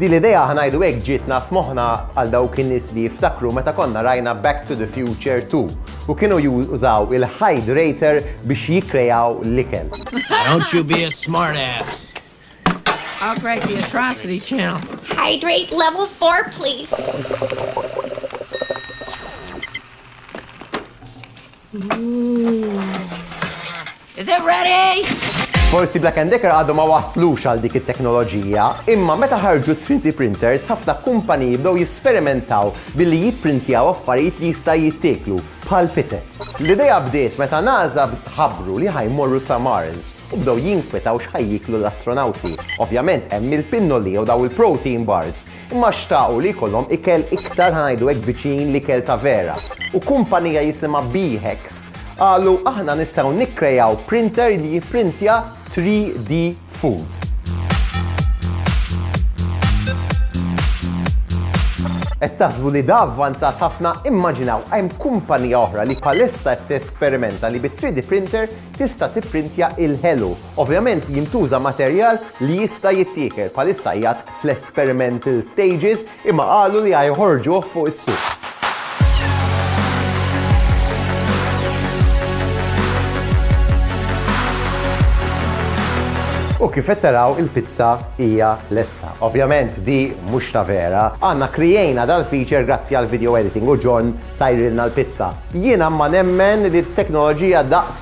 Din l-idea ħa ngħidu hekk ġietna f'moħħna għal dawk in-nies li jiftakru meta konna rajna Back to the Future 2 u kienu jużaw il-hydrator biex jikkrejaw l-ikel. Don't you be a smart ass. I'll crack the atrocity channel. Hydrate level 4, please. Is it ready? Forsi Black and Decker għadhom ma waslux għal dik it-teknoloġija, imma meta ħarġu 3D printers ħafna kumpaniji bdew jisperimentaw billi jipprintjaw affarijiet li jista' jittieklu bħal pizzets. L-idea bdiet meta NASA ħabbru li ħajmorru sa Mars u bdew jinkwetaw x'ħajjiklu l-astronawti. Ovvjament hemm il-pinnoli jew daw il-protein bars Huma xtaqu li jkollhom ikel iktar ħa ngħidu hekk viċin l-ikel ta' vera, u kumpanija jisimha Beehex qalu aħna nistgħu nikkrejaw printer li jipprintja 3D food. Qed taħsbu li da avvanzat ħafna? Immaġinaw hemm kumpanija oħra li bħalissa qed tesperimenta li bit-3D printer tista' tipprintja il-ħelu. Ovvjament jintuża materjal li jista' jittiekel, bħalissa qiegħed fl-experimental stages imma qalu li ħajħorġuh fuq is-suq. U kif qed taraw il-pizza hija lesta. Ovvjament di mhux ta' vera. Aħna kriejna dal-feature grazzi għall-video editing u John sajrilna l-pizza. Jiena ma nemmen li t-teknoloġija daqq